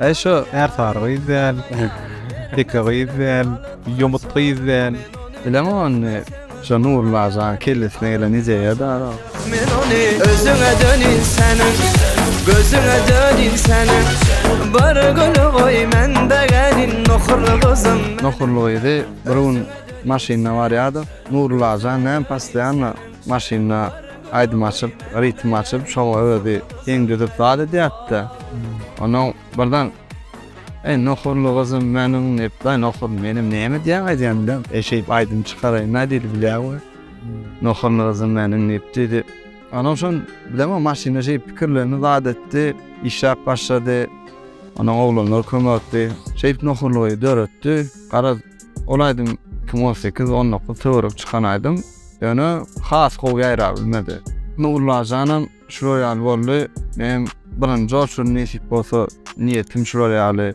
Eý şo är sary gyz däl, teke gyz däl, ýomut gyz däl. Bileňok ony. Şo Nurullah janyň kellesine gelen ideýa dara. Men ony özüňe dönün seniň gözüňe dönün seniň bir gün goý men begenin nohurly gyzym. Nohurly gyzy bir gün maşynda barýardyk. Nurullah jan näme postoýanno maşynda. aýdym açyp, ritm açyp, şoňa özi deň düzüp zat edýärdi-de, onuň birden, Eý, nohurly gyzym meniň diýip, daýy nohur, menem näme diýýäň aýdýan bilen, eşidip aýdym çykaraýyn daýy diýdi, bilýäň we, nohurly gyzym meniň diýip, diýdi. Onuň şon, bilemok, maşynda şeýdip pikirlendi, zat etdi, işläp başlady, onuň oglanlar kömekdi, şeýdip nohurly gyzy döretdi, garaz, Ol aýdym iki müň on sekiz, on dokuz töweregi çykan aýdym. Ýöne has gowy ýaýrap bilmedi. Nurlajanam şular ýaly boldy. Menem birinji oçurym nesip bolsa niýetim şular ýaly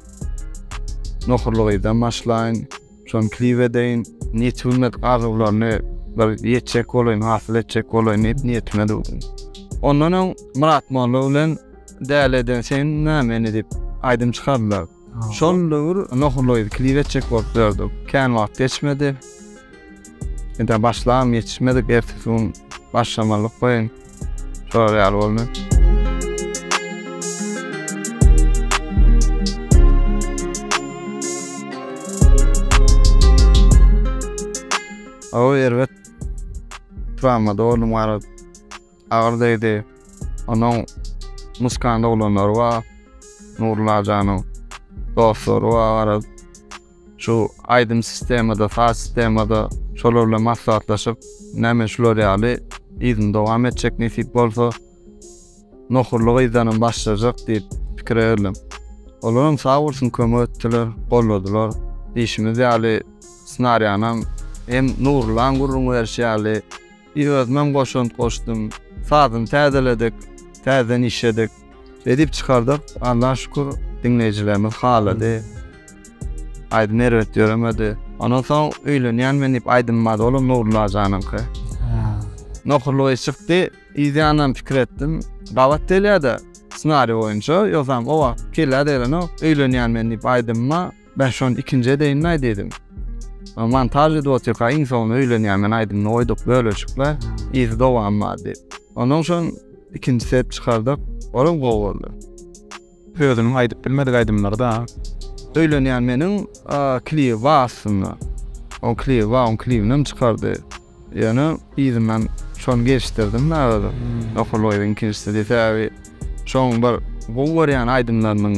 nohurly gyzdan başlaýyn. Şony klip edeýin. Ýetip bilmedik arzuwlaryny bir ýetjek bolaýyn, hasyl etjek bolaýyn diýip niýetime düwdüm. Ondan öň Myrat molla bilen Däli eden sen näme indi diýip aýdym çykardylar. Şol döwür Nohurlygy klip etjek bolup ýördük. Kän wagt geçmedi. Indi başlam ýetişmedik, ertesi gün başlamalyk goýun. Şolar ýaly boldy. Aw erbet. Tramada oldum garip. Agyr degdi. Onuň Muskan doglanlary bar. Nurullah janyň dostlary bar. Garaz, şu aýdym sistemada, saz sistemada şolar bilen maslahatlaşyp, ine men şular ýaly yzyny dowam etjek nesip bolsa. Nohurly gyzdanam başlajak diýip pikire geldim. Olaram sag bolsun kömek etdiler, golladylar. Diýşimiz ýaly, snarýanam hem Nurullaň gürrüň berşi ýaly, Bir özümem goşant goşdum. Sazyny täzeledik, täzeden işledik. Edip çykardyk. Allaha şükür, diňleýjilerimiz halady. Aýdym erbet ýöremedi. Ondan soň Öýlenýän men diýip aýdym bar, olam Nurullah janyňky. Nohurlygy çykdy. Yzýanam pikir etdim. Gabat gelýär-de, ssenariý boýunça. Ýogsam o wagt kellä degrenok. Öýlenýän men diýip aýdymyma Men şony ikinji edeýin mi diýdim. Montaž edip otyrka iň soňunda öýlenýän men aýdymyny goýduk bölejikle yzy dowam bar diýip. Ondan soň ikinjisi edip çykardyk. Olam gowy boldy. Özüniň aýdyp bilmedik aýdymlary da. Öýlenýän meniň klibi bar aslynda. Oň klibi bar, oň klibini hem çykardy. Ýöne yzyndan şony gelişdirdim da özüm. Okullygyň ikinjisi sebäbi şoň bir gowy görýän aýdymlarynyň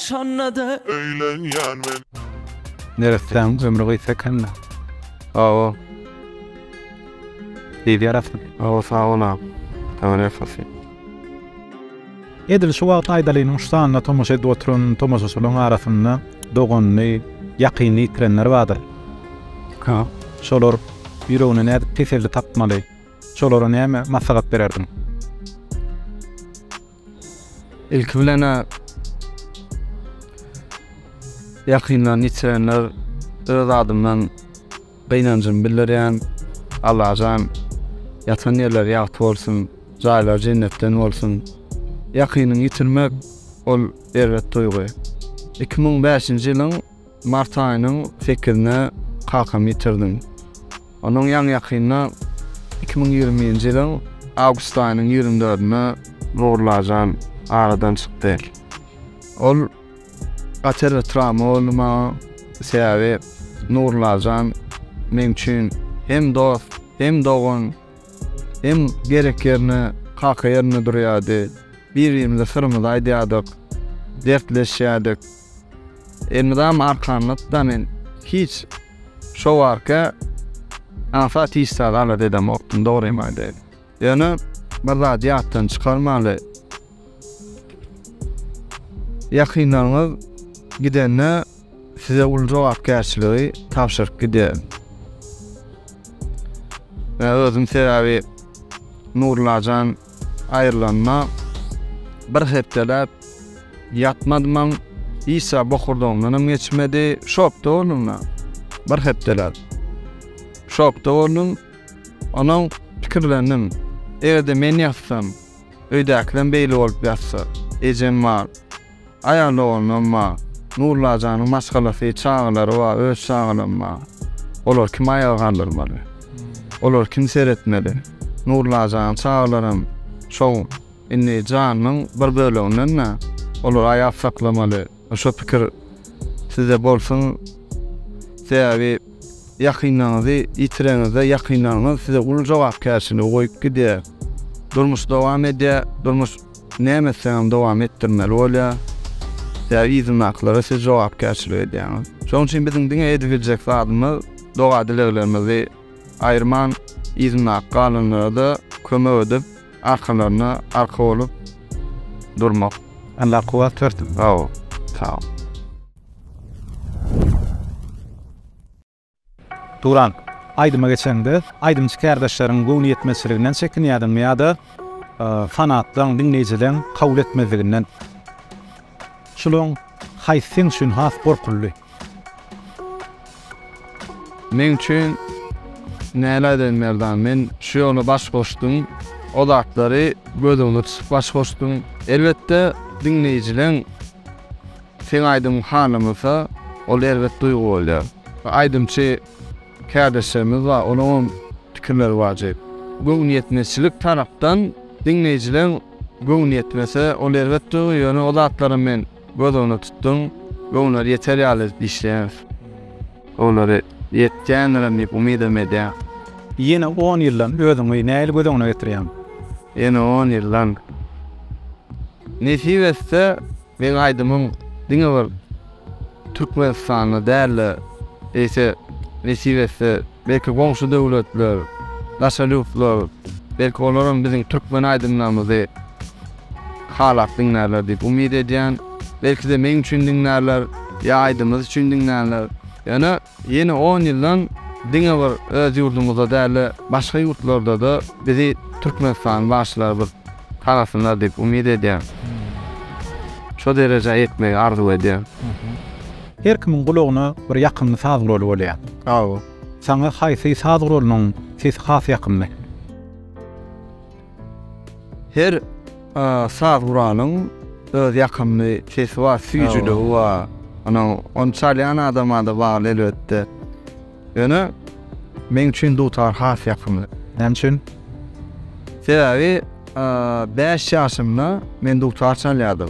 Şonda-da. Öýlenýän men. Neressäň ömri gysga ekeni. Hawa. Siz ýarasy. Hawa sag bol agam. Togry hasyt. Edil şu wagt Aýdalynyň şu sanyna tomaşa edip oturan tomaşaçylaryň arasynda doganyny, ýakynyny ýitirenler bardyr. Ka. Şolar ýüregine nädip teselli tapmaly? Şolara näme maslahat bererdiň? Ilki bilen-ä ýakynlaryny ýitirenler öz adymdan gynanjymy bildirýän. Allajan ýatan ýerleri ýagty bolsun, jaýlary jennetden bolsun. Ýakynyňy ýitirmek ol erbet duýgy. Iki müň bäşinji ýylyň Mart aýynyň sekizinde kakamy ýitirdim. Onuň ýaňy-ýakynda iki müň ýigriminji ýylyň awgust aýynyň ýigrimi dördünde Nurlajan aradan çykdy. Ol gaty bir trawma boldy maňa. Sebäbi Nurlajan meň üçin hem dost, hem dogan, hem gerek ýerine kaka ýerinde durýardy. Bir-birimize syrymyzy aýdýardyk, dertleşýärdik. Elmydam arkanlyk da men hiç şo barka asa tiz zat alat edemokdym dogrymy aýdaýyn. Ýöne bir zady ýatdan çykarmaly. Ýakynlaryňyz gidende size uly jogapkärçiligi tabşyryp gidýär. Men özüm sebäbi Nurlajan Aýrylanyma bir hepdeläp ýatmadymam, işa bokurdagymdanam geçmedi. Şokda boldum men bir hepdeläp. Şokda boldum. Onuň pikirlendim. Eger-de men ýatsam, öýdäkilerem beýle bolup ýatsa, ejem bar. Aýal doganlarym bar. Nuryla janyň maşgalasy, çagalary bar, öz çagalarym bar. Olary kim aýaga galdyrmaly? Olary kim seretmeli? Nuryla janyň çagalary hem şo indi janynyň bir böleginden-dä. Olary aýap saklamaly. Şo pikir sizde bolsun. Sebäbi ýakynlaryňyzy ýitireňizde, ýakynlaryňyz size uly jogapkärçiligi goýup gidýär. Durmuş dowam edýär. Durmuş. Näme etseňem dowam etdirmeli bolýar. Sebäbi yzyndakylara siz jogapkärçilik edýäňiz. Şonuň üçin biziň diňe edip biljek zadymyz doga-dileglerimizi aýyrman, yzyndaky galanlara-da kömek edip, arkalaryna arka bolup durmak. Allah kuwwat bersin. Sag bol. Sag bol. Turan, aýdyma geçeňde, aýdymçy kärdeşleriň göwnüýetmezçiliginden çekinýärdiňmi ýa-da fanatlaň, diňleýjileň kabul etmezliginden? Şularyň haýsy seň üçin has gorkulydy? Meň üçin, näme aýdaýyn Merdan, men şu ýola baş goşdum, o zatlary göz öňüne tutup baş goşdum. Elbetde, diňleýjileň Seň aýdymyň hanamasa, ol erbet duýgy bolýar. Aýdymçy kärdeşlerimiz bar, olaryň pikirleri bar jek. Göwnüýetmezçilik tarapdan diňleýjileriň göwni ýetmese, ol erbet duýgy, ýöne o zatlaram men göz öňünde tutdum we olar ýeter ýaly edip işleýäris. Olary ýetýändirem diýip umydam edýän. Ýene on ýyldan özüňi nähili göz öňüne getirýäň? Ýene on ýyldan. Nesip etse, meň aýdymym diňe bir Türkmenistanda däl-de, eýse, nesip etse, belki goňşy döwletler, daşary ýurtlar, belki olaram biziň türkmen aýdymlarymyzy, Halap diňlärler diýip umyt edýän. Belki-de meň üçin diňlärler, ýa aýdymyz üçin diňlänler. Ýöne ýene on ýyldan diňe bir öz ýurdumyzda däl-de, başga ýurtlarda-da bizi Türkmenistanyň bagşylary bir tanasynlar diýip umyt edýän. Şo derejä ýetmegi arzuw edýän. Her kimiň gulagyna bir ýakymly saz guraly bolýar. Sagbol. Saňa haýsy saz guralynyň sesi has ýakymly? Her saz guranyň öz ýakymly sesi bar, süýjüligi bar. Ony ony çalýan adama-da bagly elbetde. Ýöne meň üçin dutar has ýakymly. Näme üçin? Sebäbi bäş ýaşymda men dutar çalýardym.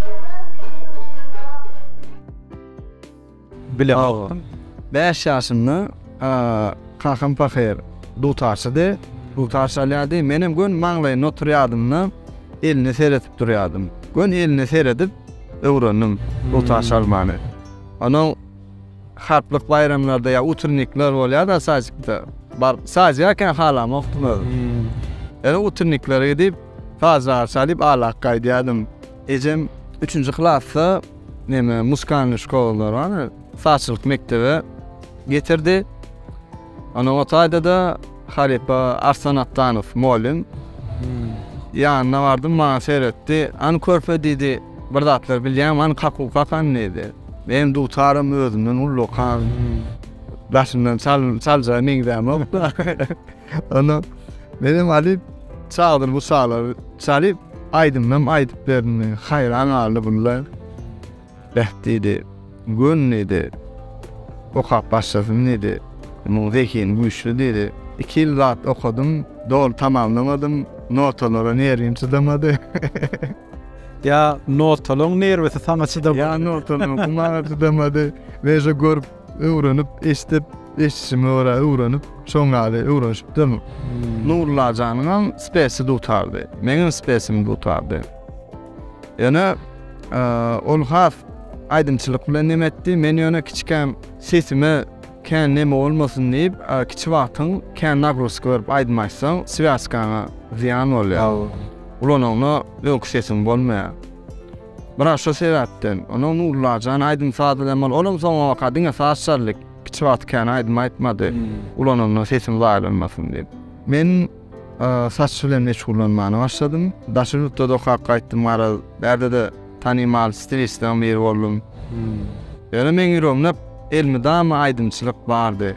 Bile agam. Bäş ýaşynda kakam pahyr dutarçydy. Dutar çalýardy. Menem göni maňlaýynda oturýardym-da, eline seredip durýardym. Göni eline seredip öwrendim dutar çalmany. Onuň harplyk baýramlarda ýa utrnikler bolýar-da sadikde. Baryp sadika-a halamokdym özüm. Ýöne utrniklere gidip. Sazjagazy çalyp alak gaýdýardym. Ejem üçünji klasda neme muskalnyý şkolalar bar, sazçylyk mekdebe getirdi. Ana o taýda-da halypa Arslan Atdanow mugallym. Ýanyna bardym, maňa seretdi. Hany körpe diýdi, bir zatlar bilýäňmi, hany kakuw kak hany diýdi. Menem dutaram özümden ullukam. Daşyndan çaljaga meňzämok-da. Ondan menem alyp çaldyr bu çalar çalyp aýdymynam aýdyp berdi. Haýran galdy bunlar. Beh diýdi. Gön diýdi. Okap başlasyn diýdi. Munuň zehini güýçli diýdi. Iki ýyl zat okadym, doly tamamlamadym. Notalara nerwim çydamady. Ýa notalaryň nerwisi saňa çydamady. Ýa notalaryň gumaga çydamady. Meje görüp Öwrenip, eşdip, eşdişime görä öwrenip, şoň ýaly öwrenişipdim. Nurullajanyňam spesi dutardy. Meňem spesim dutardy. Ýöne ol has aýdymçylyk bilen neme etdi. Men ýöne kiçikäm sesime kän neme bolmasyn diýip, kiçi wagtyň kän nagruzka berip aýdym aýtsaň, swýaskaňa zyýan bolýar. Ulanyňda öňki sesiň bolmaýar. Biraz şo sebäpden. Onuň Nullajan aýdym-sazy bilen bol, olam soňabaka diňe saz çaldyk. Hiç wagt kän aýdym aýtmady. Ulananda sesim zaýalanmasyn diýip. Men saç bilen meşgullanmana başladym. Daşary ýurtda-da okap gaýtdym, garaz, bärde-de tanymal stilistleriň biri boldum. Ýöne meň ýüregimde elmydama aýdymçylyk bardy.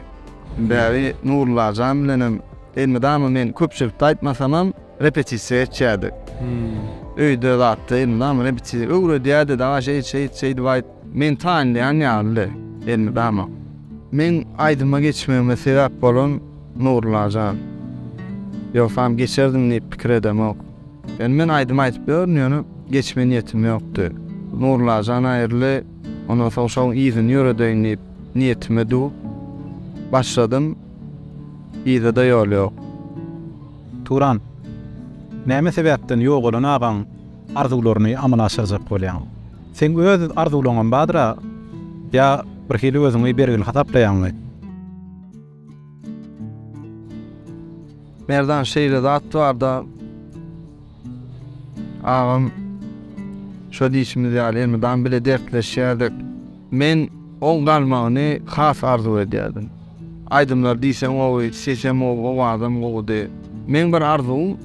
Bäri Nullajan bilenem elmydama men köpçülikde aýtmasamam, Repetisiýa geçýärdik. Öýde zatda indi dam repetisiýa öwredýärdi, daňa şeýt şeýt şeýdip aýt. Meni tanlaýan ýalydy indi dama. Meň aýdyma geçmegime sebäp bolan Nurulla jan. Ýogsam geçerdim diýip pikir edemok. Ýöne men aýdym aýdyp ýörün, ýöne geçme niýetim ýokdy. Nurulla jan aýryldy, ondan soň şoň yzyny ýöredeýin diýip niýetime dug başladym. Yza-da ýol ýok. Turan, näme sebäpden ýogalan agaň arzuwlaryny amala aşyrjak bolýaň? Seň öz arzuwlaňam bardyr-a? Ýa birhili özüňi bergil hasaplaýaňmy? Merdan, şeýle zat bar-da, Agam şo diýşimiz ýaly elmydam bile dertleşýärdik. Men oň galmagyny has arzuw edýärdim. Aýdymlary diýseň gowy, sesem gowy, owazam gowudy. Meň bir arzuwym,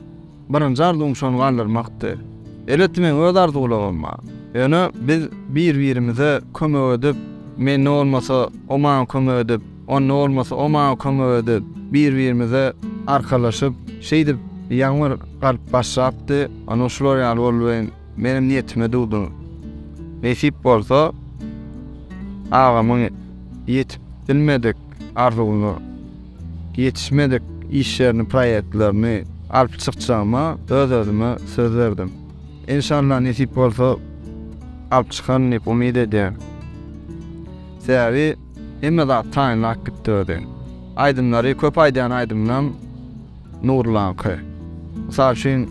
birinji arzuwym şony galdyrmakdy. Elbetde meň öz arzuwlarym bar. Ýöne biz bir-birimize kömek edip, men ne bolmasa o maňa kömek edip, Onda bolmasa o maňa kömek edip, bir-birimize arkalaşyp, şeýdip ýaňy bir galyp başlapdy. Onuň şular ýaly bolby, menem niýetime dugdy. Nesip bolsa, agamyň ýetip bilmedik arzuwyna, ýetişmedik işlerini, proýektlerini alyp çykjagyma öz-özüme söz berdim. Enşalla nesip bolsa, alyp çykaryn diýip umyt edýän. Sebäbi. Hemme zat taýynlap gitdi özi. Aýdymlary köp aýdýan aýdymynam Nurlaňky. Mysal üçin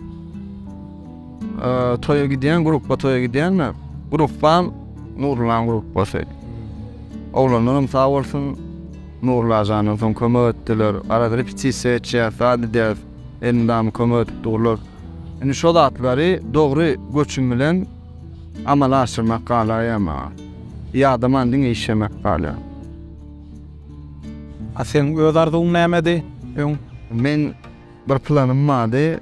toýa gidýän grupba toýa gidýänme grupbam Nurlaň grupbasy. Oglanlaram sag bolsun Nurlajandan soň kömek etdiler. Arada repetisiýa etýäs, zat edýäs. Elmydama kömek edip durlar. Indi şo zatlary dogry göçüm bilen Amala aşyrmak galaýa maňa. Ýadaman diňe işemek galýar. A seň öz arzuwyň nämedi öň? Meň bir planym bardy,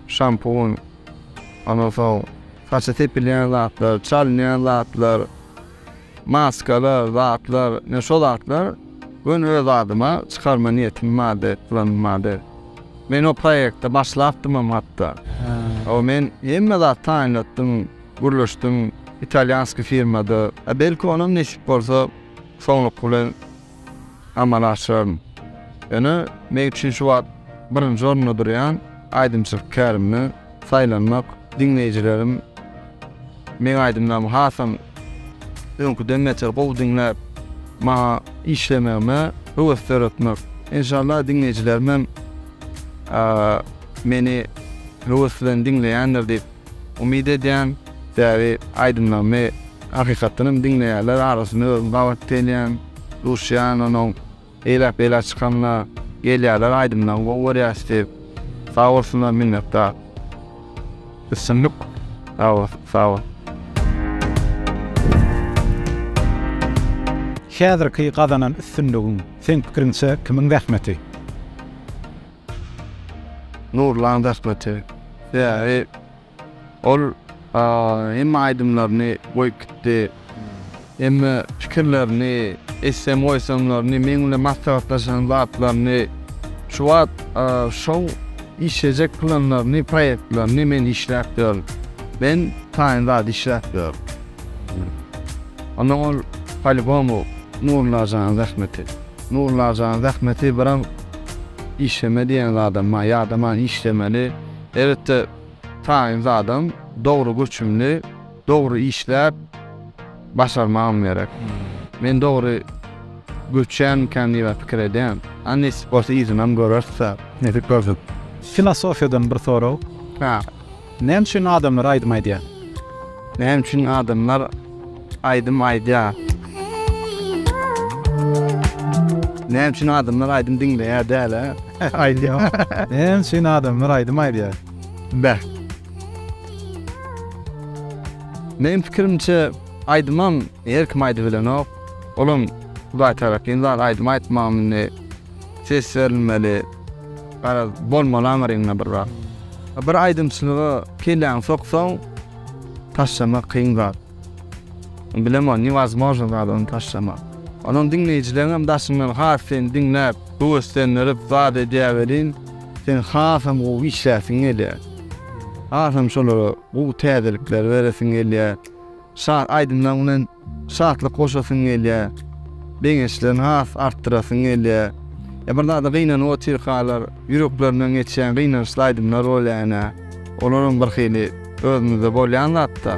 şampun, ondan soň saça sepilýän zatlar, çalynýan zatlar. Maskalar, zatlar, men şo zatlar göni öz adyma çykarma niýetim bardy, planym bardy. Men o proýekte başlapdymam hatda. Aw men hemme zat taýynlatdym, gürleşdim, italýanskiý firmada. Belki onam nesip bolsa soňluky bilen. amala aşyraryn. Ýöne men üçin şu wagt birinji orunda durýan aýdymçylyk kärimde saýlanmak, diňleýjilerim meň aýdymlarymy hasam öňküden beter gowy diňläp, maňa işlemegime höwes döretmek. Enşalla diňleýjilerimem meni höwes bilen diňleýändir diýip umyt edýän. Täze aýdymlarymy hakykatdan hem diňleýärler arasyna özüm gabat gelýän, duşýan onuň eýläk-beýläk çykanda gelýärler aýdymlaryňy gowy görýäs diýip sag bolsunlar minnetdar. Üstünlik sag bol sag bol. Häzirki gazanan üstünligiň seň pikiriňçe kimiň zähmeti? Nurlan zähmeti bäri ol hemme aýdymlaryny goýup gitdi. Hemme pikirlerini, etsem goýsamlaryny, meň bilen maslahatlaşan zatlaryny, şu wagt şow işlejek planlaryny, proýektlerini men işläp ýörün. Men taýyn zat işläp ýörün. Onda ol, polýubomu, Nurlajanyň zähmeti. Nurlajan zähmeti biraz işleme diýen zadam bar, ýadaman işlemeli. Elbetde taýyn zadam dogry göçümli, dogry işläp başarmagym gerek. Men dogry göçýänmikäm diýibem pikir edýän. A nesip bolsa yzynam göreris-ä. Nesip bolsun. Filosofiýadan bir sorag. Hä. Näme üçin adamlar aýdym aýdýar? Näme üçin adamlar aýdym aýdýar? Näme üçin adamlar aýdym diňleýär däl-ä, aýdýar? Näme üçin adamlar aýdym aýdýar? Beh. Meniň pikirimçe, aýdymam her kim aýdybilenok. Olam Hudaý tarapyn zat, aýdym aýtmagam indi Ses berilmeli. Garaz, bolmaly aňryňda bir zat. Bir aýdymçylyga kelläňi soksaň, taşlamak kyn zat. Bilemok, newazmožno zat ony taşlamak. Onuň diňleýjileň hem daşyňdan has seni diňläp, höweslendirip zat edýär welin, sen hasam gowy işläsiň gelýär. Hasam şolara gowy täzelikleri beresiň gelýär. Şat aýdymlaryň bilen şatlyk goşasyň gelýär. Begençlerini has artdyrasyň gelýär. Ýa bir zada gynanyp otyrkalar, ýüreklerinden geçýän gynançly aýdymlar bolýar ene. Olaram bir hili özümizde bolýan zatda.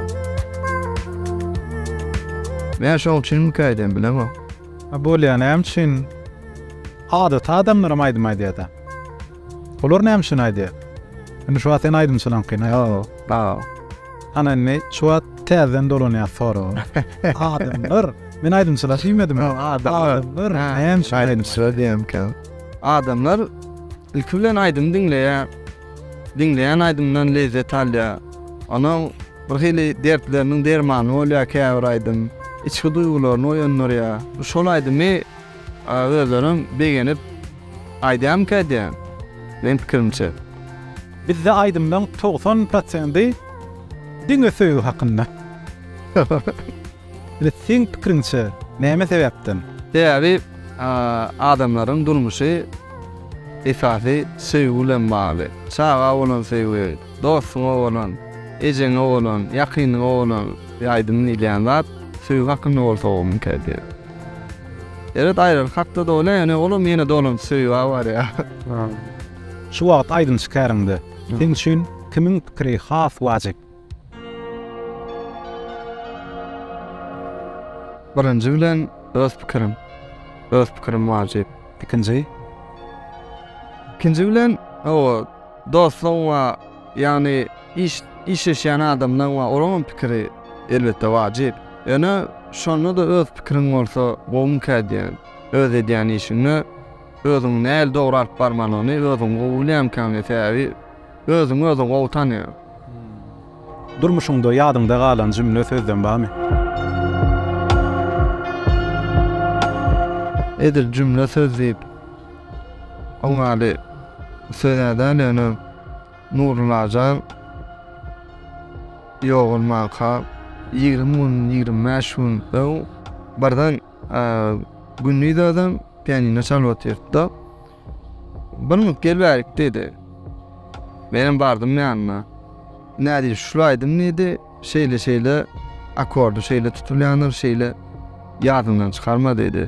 Meger şoň üçinmikä eýdýän, bilemok. Bolýar, näme üçin? Adaty adamlaram aýdym aýdýar-da. Olar näme üçin aýdýar? Indi şu wagt sen aýdym çalankyny ýa-da. Hany indi şu wagt täzeden dolanýar sorag. Adamlar, men aýdym çalasy diýmedim. Adamlar näme üçin aýdym çalýar diýemkä. Adamlar ilki bilen aýdym diňleýär. Diňleýän aýdymdan lezzet alýar. Onuň birhili dertleriniň dermany bolýar käbir aýdym. Içki duýgularyny oýandyrýar. Şol aýdymy A özlerem begenip aýdýamyka diýýän, meň pikirimçe. Bizde aýdymlaň togsan prosendi diňe söýgi hakynda. Ine seň pikiriňçe näme sebäpden? Sebäbi adamlaryň durmuşy esasy söýgi bilen bagly. Çaga bolan söýgi, dostuňa bolan, ejeňe bolan, ýakynyňa bolan aýdym diýilýän zat söýgi hakynda bolsa bolmyka diýýän. Eret aýrar hakda doly ýöne olam ýene dolandy söýüba barýa. Şu wagt aýdymçy käriňde seň üçin kimiň pikiri has wajyp? Birinji bilen öz pikirim. Öz pikirim wajyp. Ikinji? Ikinji bilen o Dostuň we ýagny iş işleşýän adamlaň we olaňam pikiri elbetde wajyp. Ýöne şonda-da öz pikiriň bolsa gowumyka diýýän. Öz edýän işiňde özüň nähili dogry alyp barmalygyny özüň gowy bilýänmikäň diýýän. Sebäbi özüňi özüň gowy tanýaň. Durmuşyňda ýadyňda galan jümle sözlem barmy? Edil jümle söz diýip Oň ady Söýädäl ýöne Nuryllajan ýogalmanka ýigrimi gün, ýigrimi bäş gün öň birden gündiz özem pianino çalyp otyrdy-da, Bir minut gel bärik diýdi. Menem bardym ýanyna. Nädip şul aýdym diýdi, şeýle-şeýle akordy şeýle tutulýandyr, şeýle ýadymdan çykarma diýdi.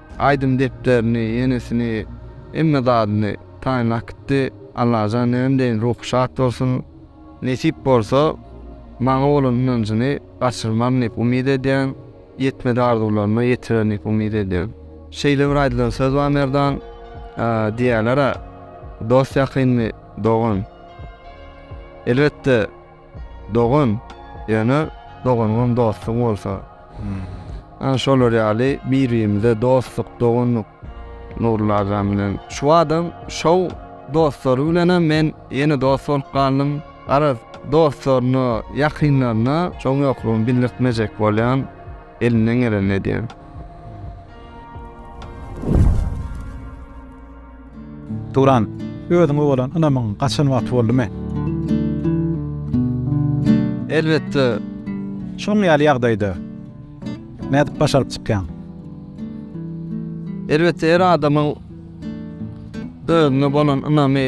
Aýdym depderini, ýenisini, hemme zadyny taýynlap gitdi. Allajan näme deýin, ruhy şat bolsun. Nesip bolsa, maňa bolan ynanjyny gaçyrman diýip umyt edýän, ýetmedi arzuwlaryna ýetirer diýip umyt edýän. Şeýle bir aýdylan söz bar Merdan, diýýärler-ä, Dost ýakyndy, dogan. Elbetde. Dogan, ýöne doganyňam dostuň bolsa. Ana şolar ýaly bir-birimize dostluk, doganlyk Nurly agam bilen. Şu badam şou dostlary bilenem men ýene dost bolup galdym. Garaz, dostlaryna, ýakynlaryna şoň ýoklugyny bildirtmejek bolýan, elimden gelenini edýän. Turan, özüňe bolan ynamyň gaçan wagty boldumy? Elbetde. Şunuň ýaly ýagdaýda nädip başaryp çykýaň? Elbetde her adamyň özüne bolan ynamy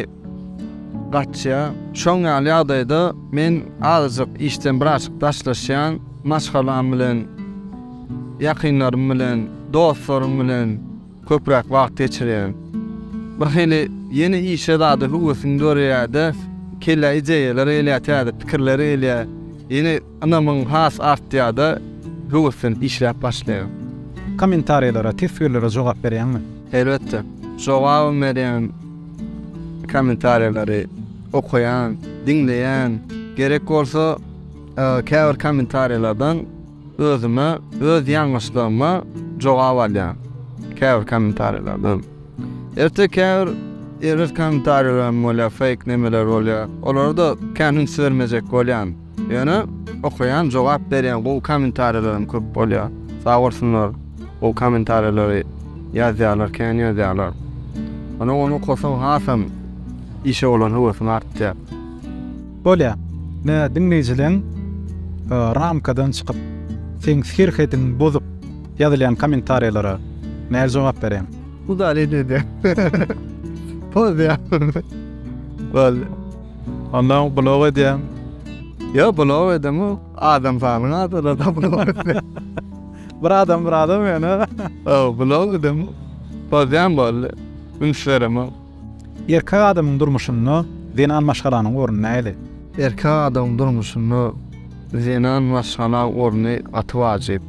gaçýar. Şoň ýaly ýagdaýda men azajyk işden birazajyk daşlaşýan, maşgalam bilen, ýakynlarym bilen, dostlarym bilen, köpräk wagt geçirýärin. Bir hili ýene işe zada höwesim döreýärde, kellä ideýalar gelýär, täze pikirler gelýär. Ýene ynamyň has artýarda, höweslenip işläp başlaýaryn. Kommentariýalara, teswirlere jogap berýäňmi? Elbetde. Jogabam berýän. Kommentariýalary okaýan, diňleýän. Gerek bolsa käbir kommentariýalardan. Özüme, öz ýalňyşlygyma jogap alýan käbir kommentariýalardan. Ertir käbir erbet kommentariýalaram bolýar, fake nemeler bolýar. Olara-da kän üns bermejek bolýan. Ýöne okaýan, jogap berýän gowy kommentariýalaram köp bolýar. Sag bolsunlar, gowy kommentariýalary ýazýarlar, kän ýazýarlar. Ony okasaň hasam işe bolan höwesim artýar. Bolýa. Ne diňleýjileň ramkadan çykyp, seň serhediň bozup ýazylýan kommentariýlara näl jogap bereň? Udalit edýän. Pozýan. Boldy. Onda blok edýän. Ýo blok edemok. Adam sanyň azalada blok etse. Bir adam bir adam ýöne. Ýo blok edemok. Pozýan boldy. Üns beremok. Erkek adamyň durmuşynda zenan maşgalanyň orny nähili? Erkek adamyň durmuşynda zenan maşgala orny gaty wajyp.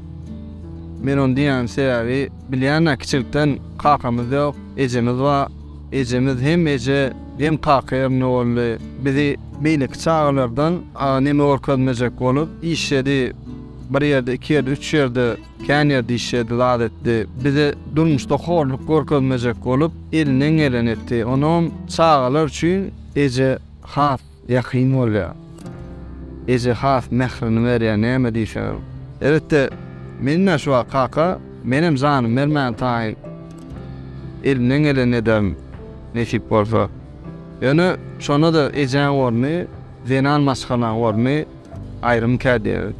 Men ony diýýän sebäbi bilýän-ä kiçilikden kakamyz ýok, ejemiz bar. Ejemiz hem eje, hem kaka ýerinde boldy. Bizi beýleki çagalardan neme görkezmejek bolup işledi. Bir ýerde, iki ýerde, üç ýerde. Kän ýer diş ýedi, zat etdi. Bize durmuşda horluk görkezmejek bolup, elinden geleni etdi. Onam çagalar üçin eje has ýakyn bolýar. Eje has mährini berýär, näme diýseňem. Elbetde, menem-ä şu wagt kaka, menem janym bermäne taýyn. Elimden gelenini ederin, nesip bolsa. Ýöne şonda-da ejäň orny, zenan maşgalaň orny aýrymykä diýerin.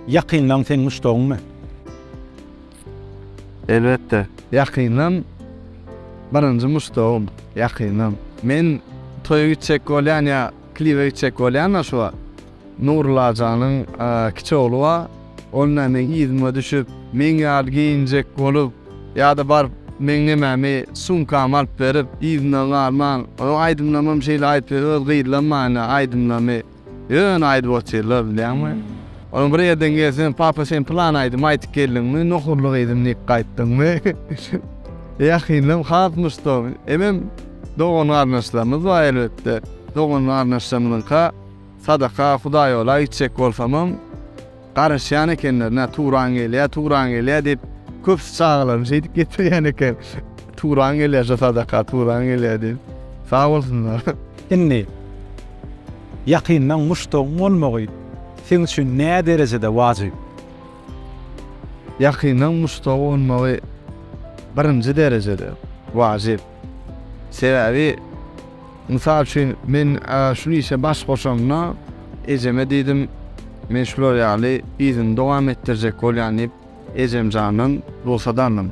Ýakynlaň seň muşdagyňmy? Elbetde. Ýakynlaň birinji muşdagym. Ýakynlaň. Men toýa gitjek bolýan ýa klibe gitjek bolýan-da şu wagt. Nurulajanyň kiçi ogly bar. Ol näme yzyma düşüp, meň ýaly geýinjek bolup, ýa-da baryp meň nemämi, sumkamy alyp berip, yzyndan galman. Onuň aýdymlamam şeýle aýdyp ýör, öz gyzlamana aýdymlamy. Ýöne aýdyp otyrlar bilýäňmi? Ony bir ýerden gelseň, Papa sen pylan aýdym aýdyp geldiňmi, nohurly gyzym diýip gaýtdyňmy? Ýakyndan has muşdagyň. Emem dogan-garyndaşlarymyz bar elbetde. Dogan-garyndaşlarymyzyňka sadaka, hudaýola gitjek bolsamam, Garaşýan ekenler, nä Turan gelýär, Turan gelýär diýip, köpüsi çagalaryny şeýdip getirýän eken. Turan gelýär şo sadaka, Turan gelýär diýip. Sag bolsunlar. Indi, ýakyndan muşdagyň bolmagy seň üçin näderejede wajyp? Ýakyndan muşdagy bolmagy birinji derejede wajyp. Sebäbi, mysal üçin, men şul işe baş goşamda, ejeme diýdim, Men şular ýaly yzyny dowam etdirjek bolýan diýip, ejemjandan rugsat aldym.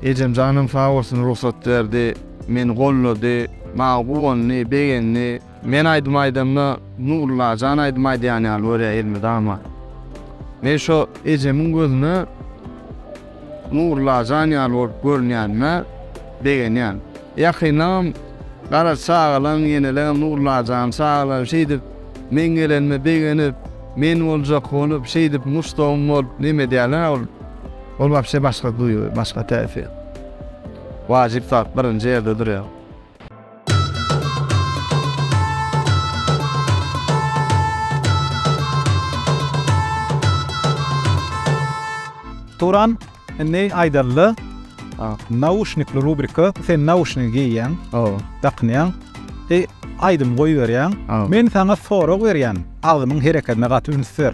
Ejemjanam sag bolsun rugsat berdi, meni goldady, maňa guwandy, begendi. Men aýdym aýdamda Nurullajan aýdym aýdýan ýaly görýär elmydama. Men şo ejemiň gözüne Nurullajan ýaly bolup görünýänime begenýän. Ýakyndanam Garaş çagalaň, ýeneleňem Nurullajan çagalar şeýdip meň gelenime begenip, men boljak bolup, şeýdip muşdagym bolup neme edýärler ol. Ol wapşe başga duýgy, başga täsir. Wajyp zat birinji ýerde durýar. Turan, indi aýdaly, nauşnikli rubrika, sen nauşnigi geýýäň, dakynýaň, e, aýdym goýberýäň, men saňa sorag berýän, agzyňyň hereketine gaty üns ber.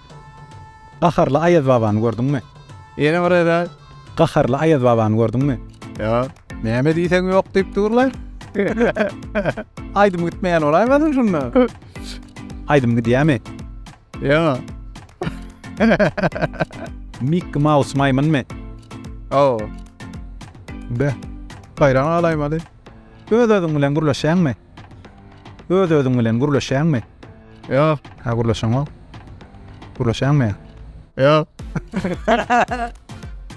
Gaharly Aýazbabany gördüňmi? Ýene bir gezek. Gaharly Aýazbabany gördüňmi? Ýok. Näme diýseň ýok diýip durlar. Aýdym gitmeýän bolaýmasyn şunda? Aýdym gidýärmi? Ýok. Mikki Maus maýmynmy? Hawa. Be, haýran galaýmaly. Öz-özüň bilen gürleşýäňmi? Öz-özüň bilen gürleşýäňmi? Ýok. Hä, gürleşeňok. Gürleşýäňmi? Ýok.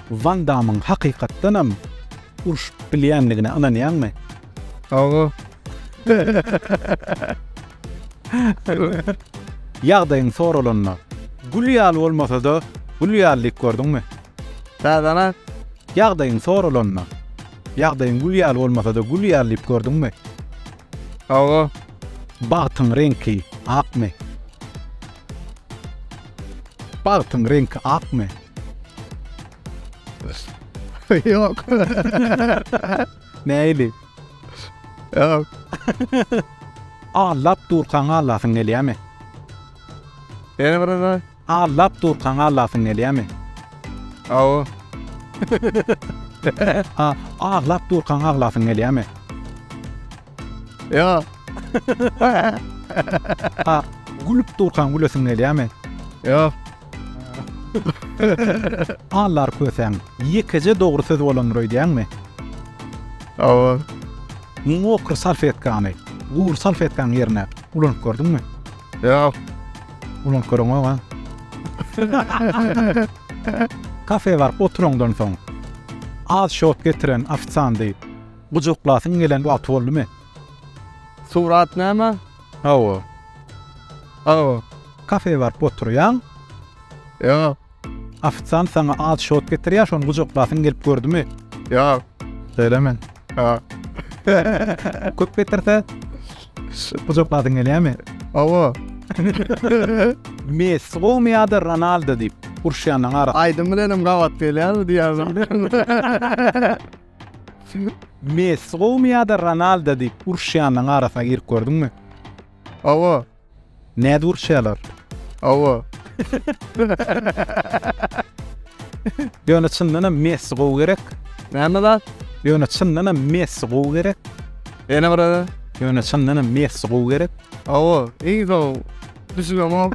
Wan Dammyň hakykatdanam urşup bilýändigine ynanýaňmy? Hawa. Ýagdaýyň soralanda, gül ýaly bolmasa-da, gül ýaly diýip gördüňmi? Täzäni aýt. Ýagdaýyň soralanda. Ýagdaýyň gül ýaly bolmasa-da gül ýaly diýip gördüňmi? Hawa. Bagtyň reňki akmy? Bagtyň reňki akmy? Ýok. Näili? Ýok. Aglap durkaň aglasyň gelýärmi? Ýene bir gezek aý. Allap durkaň aglasyň gelýämi? Hawa. A, Aglap durkaň aglasyň gelýämi? Ýok. A, Gülüp durkaň gülesiň gelýämi? Ýok. Allar kösäň, ýekeje dogry söz bolandyr öýdýäňmi? Hawa. Mokry salfetkany gury salfetkaň ýerine ulanyp gördüňmi? Ýok. Ulan köreňok a. Kafe baryp oturandan soň az şot getiren ofisiandy gujaklasyň gelen wagty boldumy? Surat näme? Hawa. Hawa. Kafe baryp oturýaň. Ýok. Ofisiant saňa az şot getirýär, şony gujaklasyň gelip gördümi? Ýok. Şeýle mi? Ýok. Köp getirse, gujaklasyň gelýärmi? Hawa. Messi gowumy ýa-da Ronaldo diýip, uruşýanyň arasynda. Aýdym bilen hem gabat gelýärmi diýýärmi? Messi gowumy ýa-da Ronaldo diýip, uruşýanyň arasyna girip gördüňmi? Hawa. Nädür şeýalar. Hawa. Ýöne çyndanam Messi gowy gerek. Näme zat? Ýöne çyndanam Messi gowy gerek. Ýene bir ara. Ýöne çyndanam Messi gowy gerek. Hawa, iň gowy. Düşünemok.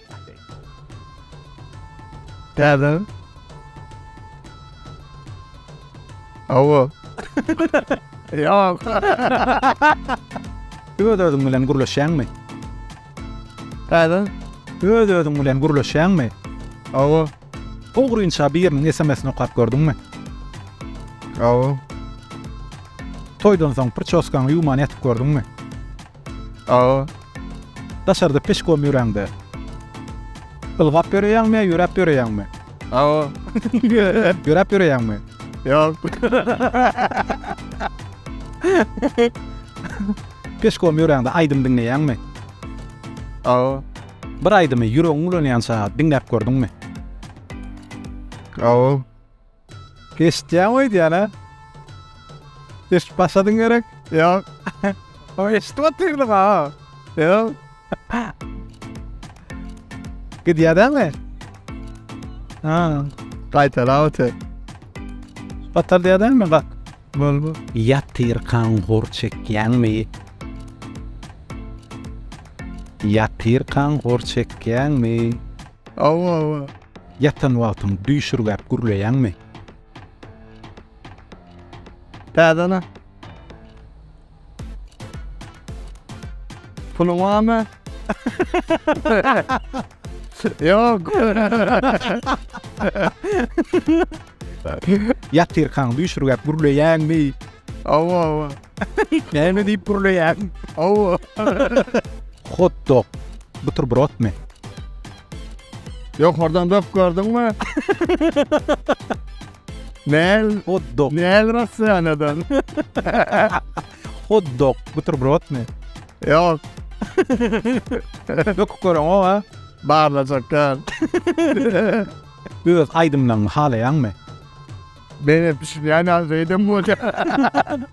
Täze. Awa. Ýok. Öz-özüň bilen gürleşýäňmi? Täze. Öz-özüň bilen gürleşýäňmi? Awa. Ogrynça biriniň SMS-ini okap gördüňmi? Awa. Toýdan soň prçoskaňy ýuwman ýatyp gördüňmi? Aga, daşarda peşkom ýöräňde. Ylgap ýöreýäňmi, ýöräp ýöreýäňmi? Aga, ýöräp ýöreýäňmi? Ýok. Peşkom ýöräňde aýdym diňleýäňmi? Aga. Bir aýdymy ýüregiň ulanýança diňläp gördüňmi? Aga. Eşitýäňmi öýdýän a? Eşit başladyň gerek? Ýok. O eşitip otyrdyň a? Ýok. Gidýär dämi? Ha, gaýtalap otyr. Batar diýär dämi? Bak. Bol bol. Ýatyrkaň hor çekýäňmi? Ýatyrkaň hor çekýäňmi? Awa, awa. Ýatan wagtyň düýşürgäp gürleýäňmi? Täzene. Puluň barmy? Ýok. Ýatyrkaň düýşürgäp gürleýäňmi? Hawa, hawa. Näme diýip gürleýäň? Hawa. Hot-dog, buterbrotmy? Ýokardan dok gördüňmi? Näl? Hot dog. Näl Russiýanadan? Hot dog. Buterbrod mi? Ýok. Dok görüň o ha. Barlajaklar. Öz aýdymlaryňy halaýaňmy? Beýle pişirýän ýaly reýdem bolýar.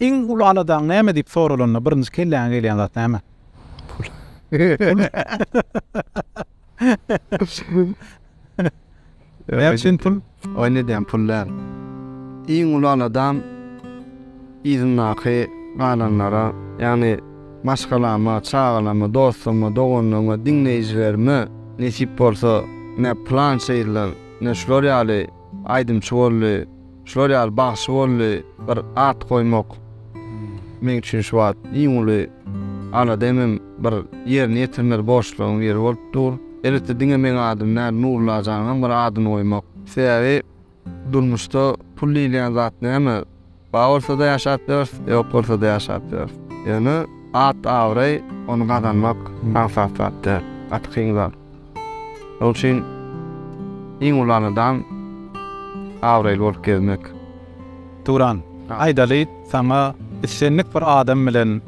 Iň uly aladaň näme diýip soralanda, birinji kelläňe gelýän zat näme? Pul. Näme üçin pul? Oýun edýän pul däl. Iň uly aladam yzyndaky galanlara, ýagny maşgalama, çagalama, dostuma, doganlygyma, diňleýjilerime nesip bolsa, ne plança ýyllar, ne şular ýaly aýdymçy boldy, Şular ýaly bagşy boldy, bir at goýmak meň üçin şu wagt iň uly alada hemem bir ýerine ýetirmeli borçlaryň biri bolup dur. Elbetde diňe meň adym däl, Nurullajanyňam bir adyny goýmak. Sebäbi durmuşda pul diýilýän zat näme? Bar bolsada ýaşap ýörüs, ýok bolsada ýaşap ýörüs. Ýöne at-abraý, ony gazanmak aňsat zat däl, gaty kyn zat. Ol üçin iň uly aladam abraýly bolup gezmek. Turan, aýdaly, saňa islendik bir adam bilen,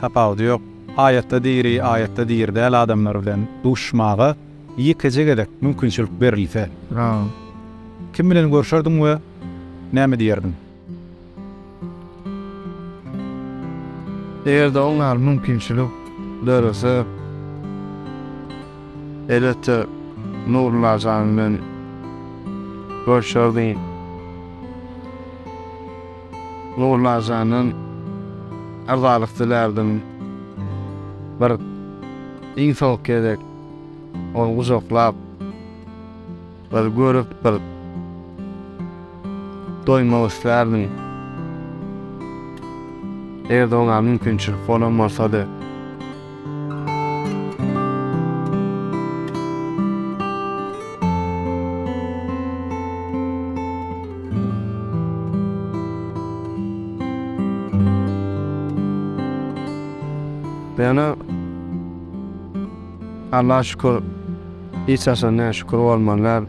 tapawudy ýok, aýatda diri, aýatda diri däl adamlar bilen duşuşmaga ýekeje gezek mümkinçilik berilse, kim bilen görşerdiň we näme diýerdiň? Eger-de oň ýaly mümkinçilik dörese, elbetde, Nurulla jan bilen görşerdim. Nurulla jandan yrzalyk dilärdim. Bir iň soňky gezek ony gujaklap. Bir görüp bir doýmak islärdim. Eger-de oňa mümkinçilik bolan bolsady. Ýöne Allaha şükür. Hiç haçan näşükür bolmanlar.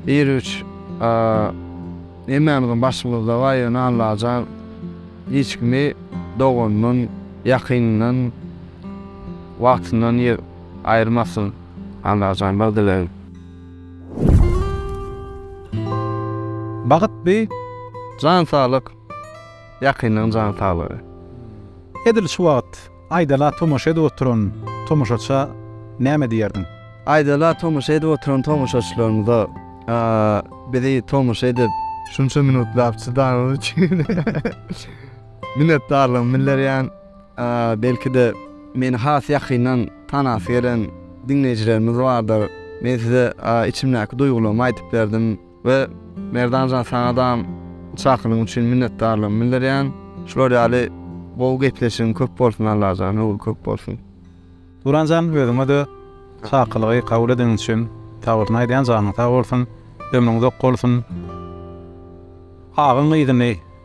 Bir güç hemmämiziň başymyzda bar ýöne Allajan hiç kimi doganyndan ýakynyndan wagtyndan aýyrmasyn Allajan bir dilegim. Bagyt by jan saglyk ýakynlaň jan saglygy. Edil şu wagyt. Aýdala tomaşa edip oturan tomaşaça näme diýerdiň? Aýdala tomaşa edip oturan tomaşaçylarymyza bizi tomaşa edip, şunça minutlap çydanyňyz üçin minnetdarlygymy bildirýän. Belki-de, meni has ýakyndan tanasy gelen diňleýjilerimiz bardyr. Men size içimdäki duýgularymy aýdyp berdim. We Merdanjan saňadam çakylygyň üçin minnetdarlygymy bildirýän. Şular ýaly gowy gepleşigiň köp bolsun Allajan höwri köp bolsun. Turanjan özüňede çakylygy kabul edeniň üçin sabolsun aýdýan janyň sag bolsun ömrüň uzak bolsun agyň yzyny.